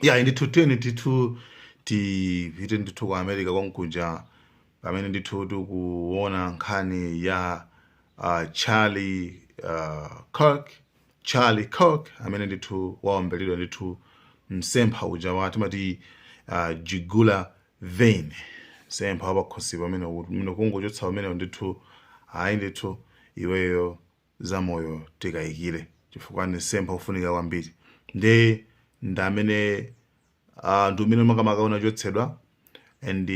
ya ndithu tiyeni ndithu tipite ndithu ku america konkuja pamene ndithu tikuona nkhani ya uh, charlie uh, kirk charlie kirk amene ndithu waombeledwa ndithu msempha uja wa timati uh, jugular vein msempha wapakhosi pa amene kungochotsa umenewo ndithu ayi ndithu iweyo za moyo tikayikire chifukwa ndi msempha ofunika kwambiri nde ndi amene uh, ndi umene makamaka unachotsedwa and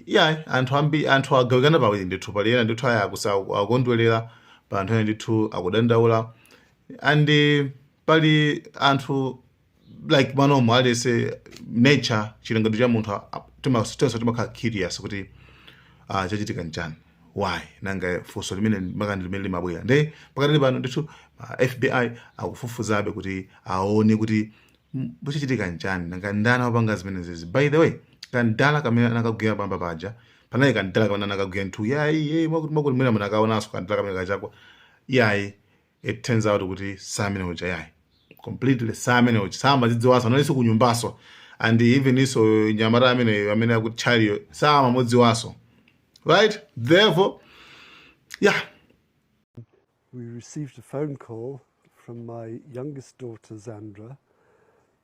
yeah anthu ambi anthu agawikana pawiri ndithu pali ena ndithu aya akusa akukondwelera pali anthu ena ndithu akudandaula and pali anthu like manomo aliyense nature chilengedwe cha munthu a- a- tima- tonse timakhala curious kuti ah, chachitika nchani why nanga funso limene makamaka limene limabwera nde pakati pano ndithu ah, fbi akufufuzabe kuti aone kuti mm, chachitika nchani nanga ndani wapanga zimenezezi by the way kadala kamene anakagwira poyamba paja panali kadala kamene anakagwira ndithu yayi yayi mwakuti mwakuti mwina munakaonanso kadala kamene kachakwa yayi it turns out kuti si amene uja yayi completely si amene uja samazidziwanso analinso kunyumbanso and even isonso mnyamata ameneyo amene aku Charlie-yo samamudziwanso right therefore yeah we received a phone call from my youngest daughter, Zandra,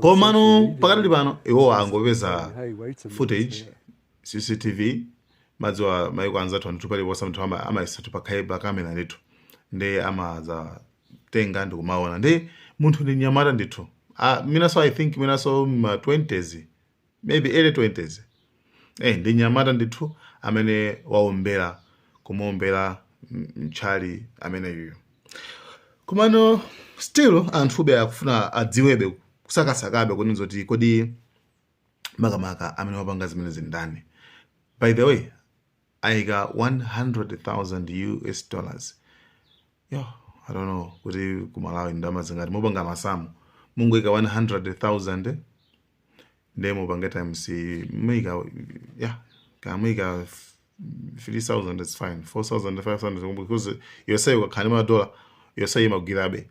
komano pakati pano iwo angopeza footage cctv mudziwa maiko anzathu ndithu paliponse ndithu ama- amaikatu pakhale pa kamera ndithu nde amadzatenga ndi kumaona ndi munthu ndi mnyamata ndithu Ah, mwinanso i think mwinanso ma 20s maybe early 20s eh ndi mnyamata ndithu amene waombera kumuombera Charlie ameneyuyo komano still anthube akufuna adziwebe kusakasakabe kuti nzoti kodi makamaka amene wapanga zimenezi ndani by the way aika 100,000 US dollars yo I don't know kuti ku Malawi ndi ndalama zingati mupanga masamu mungoika 100,000 nde mupanga times muika yeah kaya muika 3,000 it's fine 4,000 5,000 because yoseyo ukakhala ndi madola yoseyo imagwirabe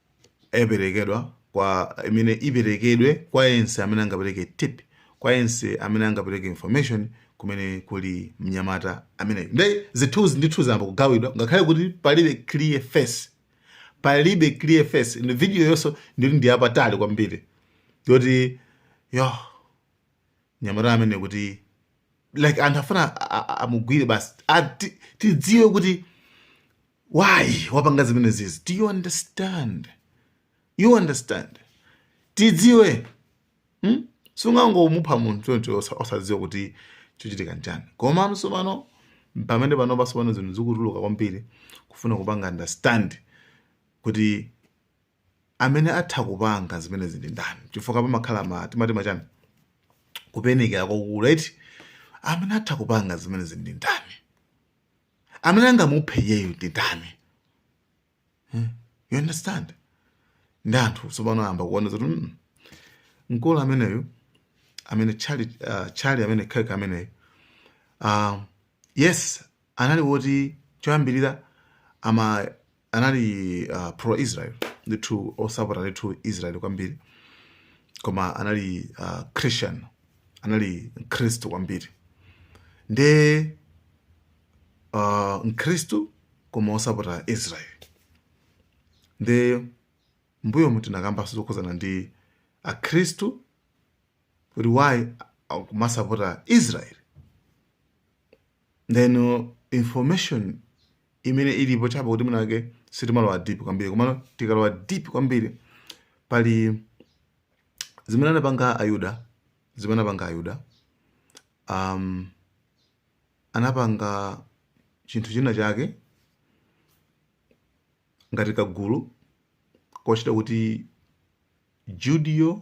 iperekedwa kwa imene iperekedwe kwa yense amene angapereke tip kwa yense amene angapereke information kumene kuli mnyamata ameneyo nde zithunzi ndithu zayamba kugawidwa ngakhale kuti palibe clear face palibe clear face ndi video yonso ndili ndi yapatali kwambiri yoti yo mnyamata amene kuti like anthu afuna amugwire basi tidziwe kuti why wapanga zimene zizi do you understand you understand tidziwe hmm? sungangomupha munthu choncho osadziwa kuti chochitika nchani koma tsopano pamene panopa tsopano zinthu zikutuluka kwambiri kufuna kupanga understand kuti amene atha kupanga zimenezi ndi ndani chifukwa pamakhala ma timati ma chani kuthekera kwakukulu eti amene atha kupanga zimenezi ndi ndani amene angamuphe iyeyo ndi ndani hmm? you understand ndi anthu tsopano ayamba kuona zoti mm, mkulu ameneyo amene Charlie uh, Charlie amene Kirk ameneyo uh, yes anali woti choyambirira ama anali uh, pro Israel ndithu wosapota ndithu Israel kwambiri koma anali uh, Christian anali Mkhristu kwambiri nde uh, Mkhristu koma wosapota Israel nde mbuyomu tinakambanso zokhuzana ndi Akhristu kuti why akumasapota Israel ndeno information imene ilipo chabe kuti mwina wake sitimalowa deep kwambiri komano tikalowa deep kwambiri pali zimene anapanga ayuda zimene anapanga ayuda um, anapanga chinthu china chake ngati kagulu kotchedwa kuti judeo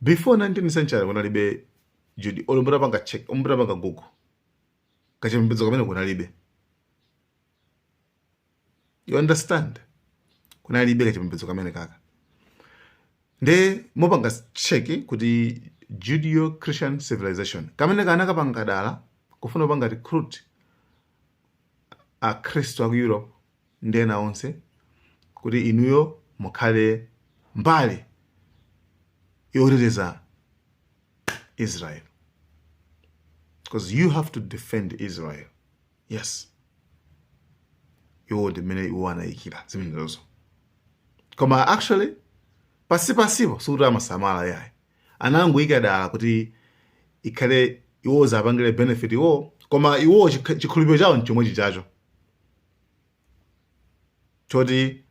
before 19th century kunalibe judeo olo mutapanga check mutapanga google kachipembedzo kamene kunalibe you understand kunalibe kachipembedzo kamenekaka nde mupange check kuti judeo christian civilization kamene anakapanga dala kufuna kupanga recruit akhristu aku europe ndi ena onse kuti inuyo mukhale mbali yoteteza israel because you have to defend israel yes iwo ndi mmene iwo anayikira zimenezozo koma actually pansipansipo sikuti amasamala yayi anangoyika dala kuti ikhale iwo ziwapangire benefit iwo koma iwo chikh- chikhulupiriro chawo nchomwe chichacho choti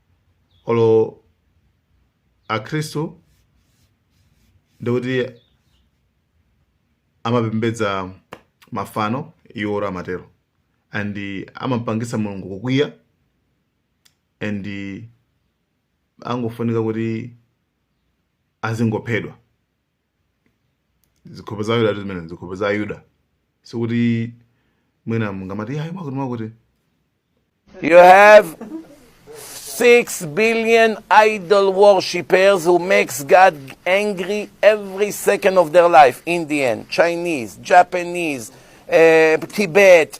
olo akhristu ndikuti amapembedza mafano iwo olo amatero and amampangitsa mulungu kukwiya and angofunika kuti azingophedwa zikhope za ayuda zimene zikhope za ayuda sikuti mwina mungamati ayi mwakuti You have six billion idol worshippers who makes God angry every second of their life. Indian, Chinese, Japanese, uh, Tibet,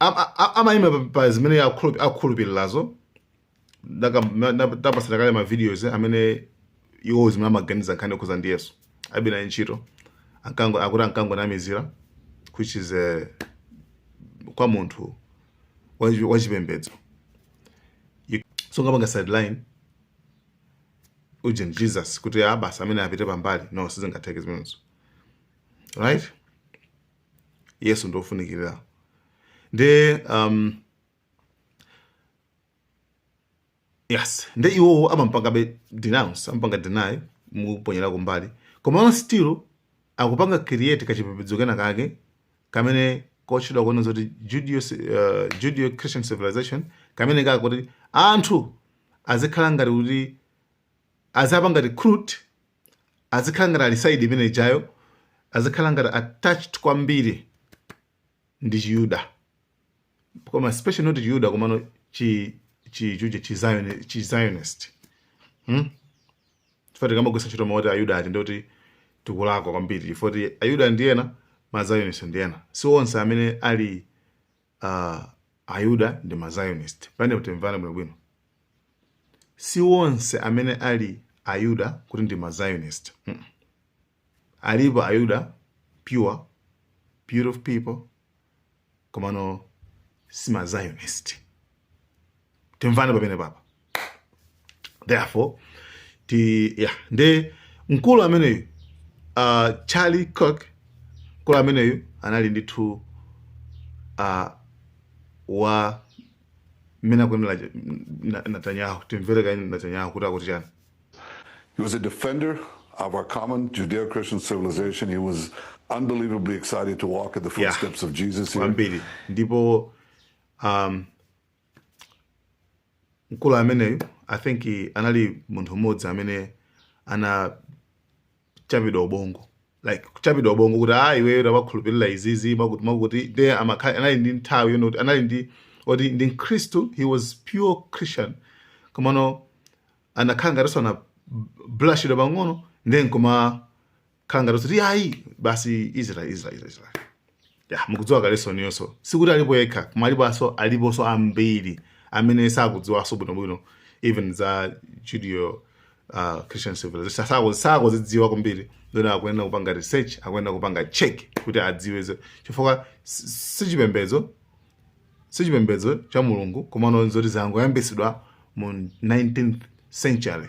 am- a- a- amaima pa- pa zimene akhulup- akhulupirirazo Ndaka- na- ndapatsira kale ma videos amene iwo zimene amaganiza nkhani yokhuza ndi yesu alibe naye ntchito Ankango- akuti ankangonamizira which is eh, kwa munthu wachi- wachipembedzo You- so ngapanga sideline ujeni jesus kuti ah basi amene apite pambali no sizingatheke zimenezo right yesu ndi ofunikirira nde um, yes nde iwowo amampangabe denounce amampanga deny nkumuponyera kumbali komano still akupanga create kachipembedzo kena kake kamene kotchedwa kuona zoti judeo, uh, judeo christian civilization kamene kake kuti anthu azikhala ngati kuti azapanga recruit azikhala ngati ali side imene ijayo azikhala ngati attached kwambiri ndi chiyuda koma especially not chiyuda komano chi chi chuje chi Zion- chi zionist hmm? chifukwa tikamagwiritsa ntchito mawu oti ayuda ati ndoti tikulakwa kwambiri chifukwa ti ayuda ndi ena ma zionist ndi ena si onse amene ali uh, ayuda ndi ma zionist pamenepo timvane bwino bwino si onse amene ali ayuda kuti ndi ma zionist mm -mm. alipo ayuda pure beautiful people komano si ma zionist timvane pamenepapa therefore ti ya nde mkulu ameneyu uh, charlie kirk mkulu ameneyu anali ndithu uh, wa mmene akunenera netanyahu timvere kaye netanyahu kuti akuti chani He was a defender of our common Judeo Christian civilization. He was unbelievably excited to walk in the Yeah. footsteps of Jesus here. kwambiri ndipo um, mkulu ameneyu i think anali munthu mmodzi amene anachapidwa ubongo like kuchapidwa ubongo kuti ah iweyo tawakhulupirira izizi mwakuti mwakuti nde amakhala anali ndi nthawi yonoti anali ndi oti ndi mkhristu he was pure christian komano anakhala ngatinso anabulashidwa pang'ono then koma khala ngati kuti ayi basi israel israel israel israel ya mukudziwa kale so niyonso sikuti alipo yekha koma aliponso aliponso ambiri amene sakudziwanso bwinobwino even za judeo uh, christian civilization Sako- sakuzidziwa kwambiri zoti akuyenera kupanga research akuyenera kupanga check kuti adziwe zo- chifukwa si- sichipembedzo sichipembedzo cha mulungu komano zoti zinangoyambitsidwa mu 19th century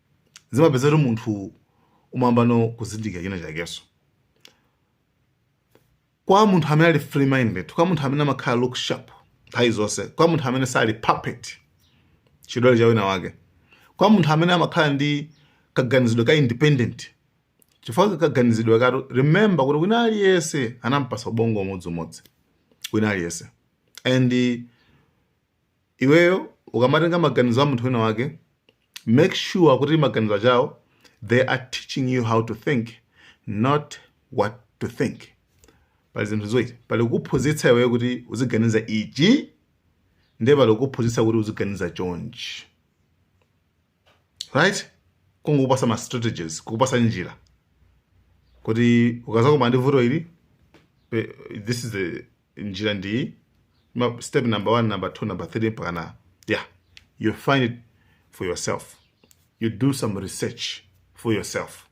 zimapeza kuti munthu umayambano kuzindikira china chakenso kwa munthu amene ali free minded kwa munthu amene amakhala look sharp nthawi zonse kwa munthu amene sali puppet chidole cha wina wake kwa munthu amene amakhala ndi kaganizidwe ka independent chifukwa kaganizidwe kathu remember kuti wina aliyense anampasa ubongo umodziumodzi wina aliyense and Iweyo ukamatenga maganizo a munthu wina wake make sure kuti maganizo ake awo they are teaching you how to think not what to think. Pali zinthu ziwiri, pali kukuphunzitsa iweyo kuti uziganiza ichi ndiye pali kukuphunzitsa kuti uziganiza chonchi right kungokupasa ma strategies kukupasa njira kuti ukazakumana ndi vuto ili pe- this is the njira ndi step number one number two number three mpakana yeah you find it for yourself you do some research for yourself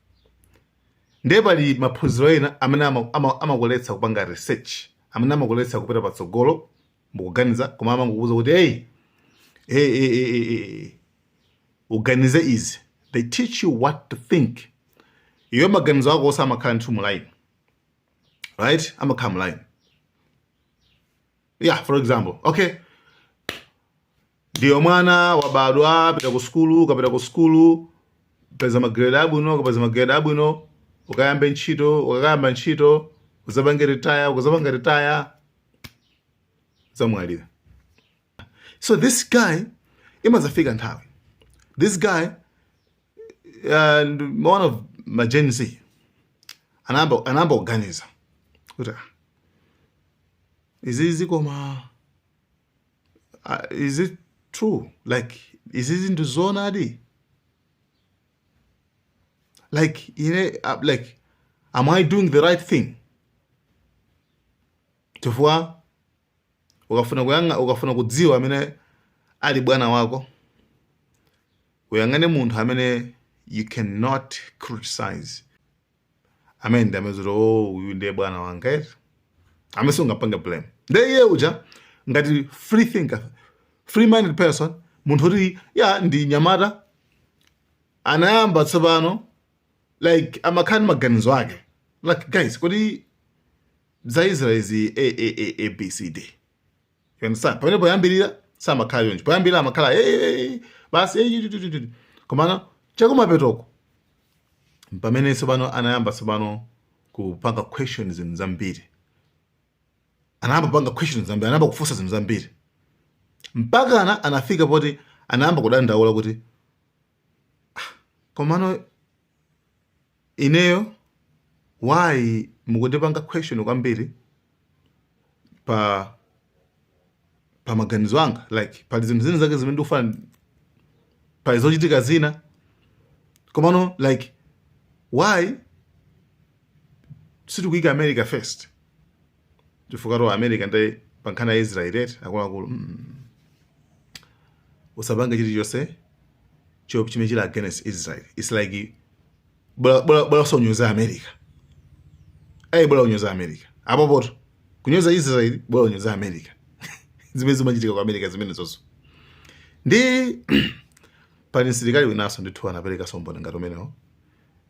ndiye pali maphunziro ena amene amakuletsa ama, ama kupanga research amene amakuletsa kupita patsogolo mukuganiza koma amangokuuza kuti hey, hey, hey, hey, hey, hey. uganize izi they teach you what to think iyo maganizo ako amakhala ndithu mulaini right amakhala mu line yeah for example okay ndiye mwana wabadwa apita ku sukulu ukapita ku sukulu peza magrade abwino ukapeza magrade abwino ukayambe ntchito ukakayamba ntchito uzapange retire ukazapanga retire uzamwalire so this guy imazafika nthawi this guy and one of my Gen Z anayamba anayamba kuganiza kuti "Ah, izizi koma ah, is it true like izizi ndi zoonadi like ine ah, like am i doing the right thing chifukwa ukafuna kuyang'a ukafuna kudziwa amene ali bwana wako uyang'ane munthu amene you cannot criticize amene ndi amene umadziwa zoti oh uyu ndiye bwana wanga eti amene sungapange blame ndiye iye uja ngati free thinker free minded person munthu oti ya ndi nyamata anayamba tsopano like kumakhala ndi maganizo ake like guys kodi za Israel zi a a a a b c d you understand pamene poyambirira samakhala choncho poyambirira amakhala hey, hey, hey, basi hey, tu, tu, tu, tu. komano chakumapetoko pamene tsopano anayamba tsopano kupanga questions zinthu zambiri anayamba kupanga questions zambiri anayamba kufunsa zinthu zambiri mpakana anafika poti anayamba kudandaula kuti komano ineyo why mukundipanga question kwambiri pa pa maganizo anga like pali zinthu zina zake zimene ndikufuna pali zochitika zina komano like why sitikuyika america first chifukwatu america ndi pa nkhani ya israel eti akuluakulu mm. usapange chilichonse cho- chimene chili against israel its like bola- bola bola uzinyoza america ayi bola unyoze america apopoto kunyoza israel bola unyoze america zimene zimachitika ku america zimenezo ndi pali msilikali winanso ndithu anapereka umboni ngati umenewo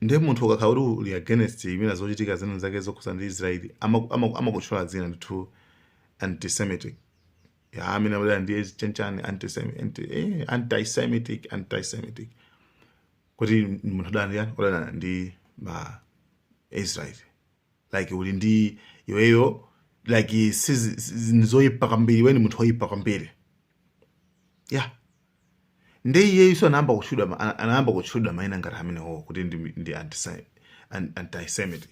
ndiye munthu ukakhala kuti uli against mwina zochitika zina zake zokhudzana ndi israeli amaku- amaku- amakutchula dzina ndithu antisemitic ya amene abwera ndi chiyani chiyani antisemi- anti- eh, antisemitic antisemitic kuti munthu udana ndi yani udana ndi ma israeli like uli ndi iweyo like sizi- sizi- ndi zoyipa kwambiri iwe ndi munthu woyipa kwambiri ya nde iyeyuso anayamba kutchulidwa ma- ana- anayamba kutchulidwa maina ngati amenewo kuti ndi, ndi antisai- an- antisemitic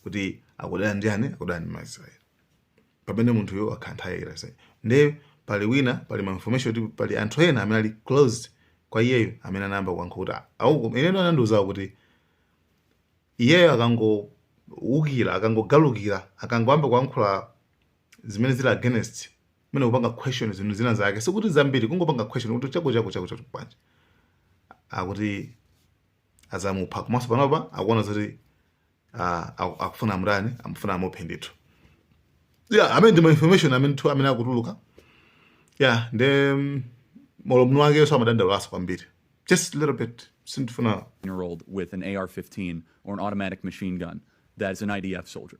kuti akudana ndi ani akudana ndi maisraeli pamene munthuyo akhanthayira nde pali wina pali ma information kuti pali anthu ena amene ali close kwa iyeyo amene anayamba kuyankhula kuti au ineyo anandiuza kuti iyeyo akangoukira akangogalukira akangoyamba kuyankhula zimene zili against mwina kupanga question zinthu zina zake sikuti zambiri kungopanga question kuti chako chako chako chako bwanji akuti azamupha komanso panopa akuona zoti ah, aku- akufuna amutani akufuna amuphe ndithu yeah amene ndi ma information amene tu amene akutuluka yeah nde mm, moromonso iyeyonso amadandaulaso kwambiri just a little bit sindifuna year old with an AR 15 or an automatic machine gun that is an IDF soldier.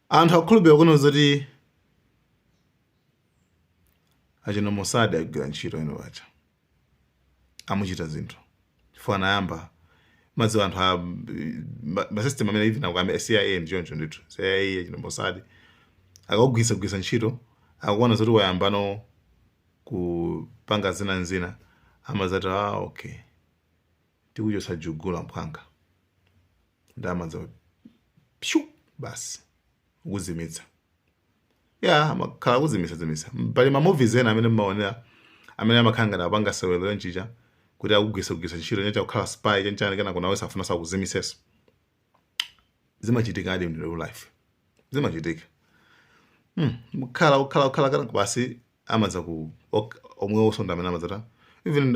Anthu akukhulupirira kunena zoti achina Mossad agwira ntchito ino paja amachita zinthu chifukwa anayamba madziwa anthu a ma- masystem amene even akukambe CIA ndi choncho ndithu CIA achina Mossad akakugwiritsagwiritsa ntchito akaona zoti wayambano kupanga zina nzina amazati ah okay tikuchotsa jugula mphwanga nde amadza pshu basi kukuzimitsa ya amakhala kuzimitsa zimitsa pali ma movies ena amene mmaonera amene amakhala ngati apanga sewero lenchicha kuti akugwiritsagwiritsa ntchito nyacha kukhala spy chanchani kenako one day safuna azakuzimitsenso zimachitikadi in real life zimachitika hmm. mkhala ukhala ukhala kenako basi amadza ku omwe osonda amene amadzata even